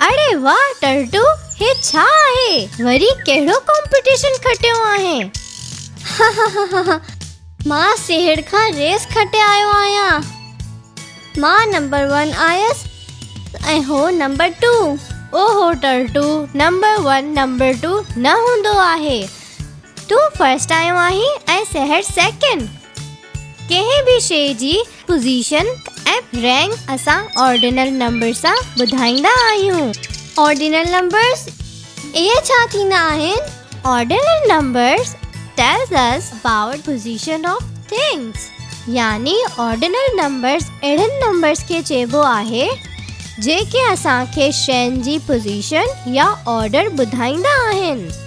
اڙي واھ ٽرٽو هي ڇا آهي وري ڪهڙو ڪمپٽيشن کٽيو آهين مان سهڙ کان ريس کٽي آيو آهيان مان نمبر 1 آيس ۽ هو نمبر 2 اوهو ٽرٽو نمبر 1 نمبر 2 نه هوندو آهي تون فرسٽ آيو آهين ۽ سهڙ سيڪنڊ ڪنهن به شيء جي پوزيشن ۽ رينڪ اسان آرڊينل نمبرز سان ٻڌائيندا آهيون. آرڊينل نمبرز، اهي ڇا ٿيندا آهن؟ Ordinal numbers tells us about position of things يعني آرڊينل نمبرز اهڙن نمبرز کي چئبو آهي جيڪي اسان کي شين جي پوزيشن يا آرڊر ٻڌائيندا آهن.